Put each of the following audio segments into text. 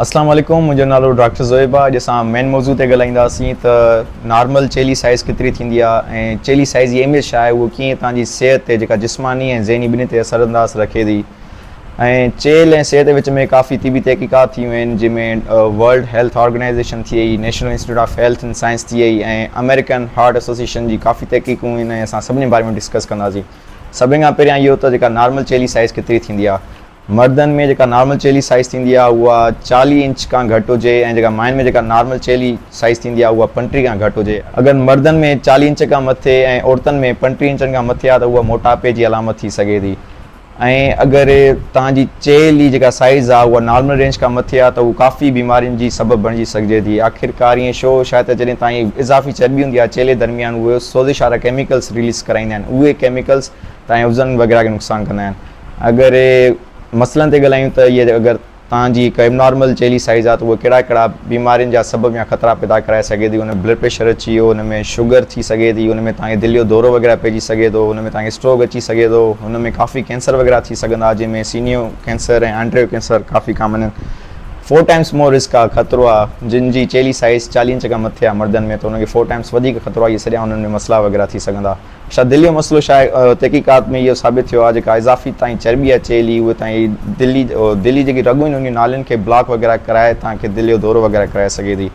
اسلام عليڪم منهنجو نالو ڊاڪٽر زويب آ اڄ اسان مين موضوع تي ڳالهائينداسين ته نارمل چيلي سائيز ڪيتري ٿيندي آ ۽ چيلي سائيز جي اهميت ڇا آهي اهو ڪيئن توهان جي صحت تي جيڪا جسماني ۽ ذهني ٻنهي تي اثر انداز رکي ٿي ۽ چيل ۽ صحت وچ ۾ ڪافي طبي تحقيقات ٿيون آهن جنهن ۾ ورلڊ هيلٿ آرگنائيزيشن ٿئي National Institute of Health and Science ٿئي ۽ امريڪن هارٽ ايسوسيشن جي ڪافي تحقيقون آهن ۽ اسان سڀني باري ۾ ڊسڪس ڪنداسين سڀني کان پهريان اهو ته جيڪا نارمل چيلي سائيز ڪيتري ٿيندي آ مردن ۾ جيڪا نارمل چيلي سائيز ٿيندي آهي اها چاليهه انچ کان گهٽ هجي ۽ جيڪا ماين ۾ جيڪا نارمل چيلي سائيز ٿيندي آهي اها پنٽيهه کان گهٽ هجي. اگر مردن ۾ چاليهه انچ کان مٿي ۽ عورتن ۾ پنٽيهه انچن کان مٿي آهي ته اها موٽاپي جي علامت ٿي سگهي ٿي ۽ اگر توهان جي چيلي جيڪا سائيز آهي اها نارمل رينج کان مٿي آهي ته اها ڪافي بيمارين جي سبب بڻجي سگهجي ٿي. آخرڪار ائين شو شايد ته جڏهن توهان جي اضافي چرٻي هوندي آهي چيلي درميان اهي سوزش وارا ڪيميڪلز رليز ڪرائيندا آهن اهي ڪيميڪلز توهان جي عضون وغيره کي نقصان ڪندا آهن. اگر مسئلن تي ڳالهايون ته اهي اگر توهان جي هڪ ابنارمل چيلي سائيز آهي ته اهو ڪهڙا ڪهڙا بيمارين جا سبب يا خطرا پيدا ڪرائي سگهي ٿي ان ۾ بلڊ پريشر اچي ويو ان ۾ شگر ٿي سگهي ٿي ان ۾ توهان کي دل جو دورو وغيره پئجي سگهي ٿو ان ۾ توهان کي اسٽروڪ اچي سگهي ٿو ان ۾ ڪافي ڪينسر وغيره ٿي سگهندا جنهن ۾ سينيو ڪينسر ۽ آنڊريو ڪينسر ڪافي ڪامن آهن فور ٽائمس مور رسڪ آهي خطرو آهي جن جي چيلي سائيز چاليهه انچ کان مٿي آهي مردن ۾ ته انهن کي فور ٽائمس وڌيڪ خطرو آهي اهي سڄا انهن ۾ مسئلا وغيره ٿي سگهندا شايد دل جو مسئلو ڇا آهي تحقيقات ۾ اهو ثابت ٿيو آهي جيڪا اضافي تانئي چرٻي اچي هلي اهي تانئي دل جي دل جي جيڪي رڳون آهن انهن جي نالين کي بلاڪ وغيره ڪرائي تانئي کي دل جو دورو وغيره ڪرائي سگهي ٿي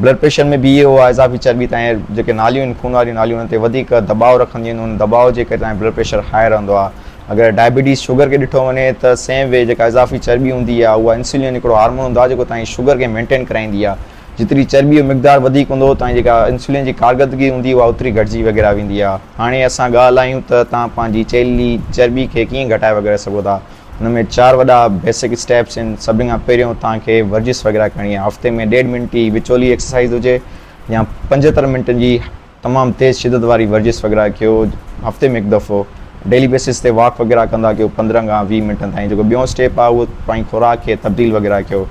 بلڊ پريشر ۾ به اهي اهو آهي اضافي چرٻي تانئي جيڪي ناليون آهن خون واريون ناليون انهن تي وڌيڪ دٻاء رکنديون آهن ان دٻاء جي ڪري تانئي بلڊ پريشر هاء رهندو آهي اگر ڊائبيٽيز شگر کي ڏٺو وڃي ته سيم وي جيڪا اضافي چرٻي هوندي آهي اها انسولين هڪڙو هارمون هوندو آهي جيڪو تانئي شگر کي مينٽين ڪرائيندي آهي جيتري چرٻي جو مقدار وڌيڪ هوندو اتان جي جيڪا انسولين جي ڪارڪردگي هوندي اها اوتري گهٽجي وغيره ويندي آهي هاڻي اسان ڳالهه لاهيون ته توهان پنهنجي چيلي چرٻي کي ڪيئن گهٽائي وغيره سگهو ٿا ان ۾ چار وڏا بيسڪ اسٽيپس آهن سڀني کان پهريون توهان کي ورزش وغيره ڪرڻي آهي هفتي ۾ ڏيڍ منٽ جي وچولي ايڪسرسائيز هجي يا پنجهتر منٽن جي تمام تيز شدت واري ورزش وغيره ڪيو هفتي ۾ هڪ دفعو ڊيلي بيسس تي واڪ وغيره ڪندا ڪيو پندرهن کان ويهه منٽن تائين جيڪو ٻيون اسٽيپ آهي اهو پنهنجي خوراڪ کي تبديل وغيره ڪيو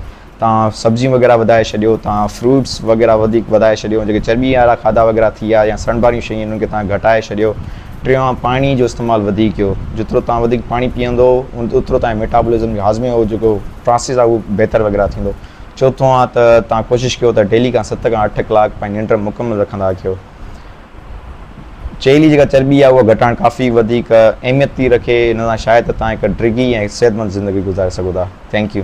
تان سبزيون وغيره وڌائي ڇڏيو تان فروٽس وغيره وڌيڪ وڌائي ڇڏيو جيڪي چرٻي وارا کاڌا وغيره ٿي ويا يا سڙڻ واريون شيون انهن کي تان گهٽائي ڇڏيو ٽيون آهي پاڻي جو استعمال وڌيڪ ڪيو جيترو تان وڌيڪ پاڻي پيئندو اوترو تان ميٽابولزم جو هاضمي جو جيڪو پراسيس آهي اهو بهتر وغيره ٿيندو. چوٿون آ ته توهان ڪوشش ڪيو ته ڊيلي کان ست کان اٺ ڪلاڪ پنهنجي ننڊ مڪمل رکندا ڪيو. چيلي جي جيڪا چرٻي آهي اها گهٽائڻ ڪافي وڌيڪ اهميت ٿي رکي، ان سان شايد ته توهان هڪ ڊگهي ۽ صحتمند زندگي گذاري سگهو ٿا. Thank U.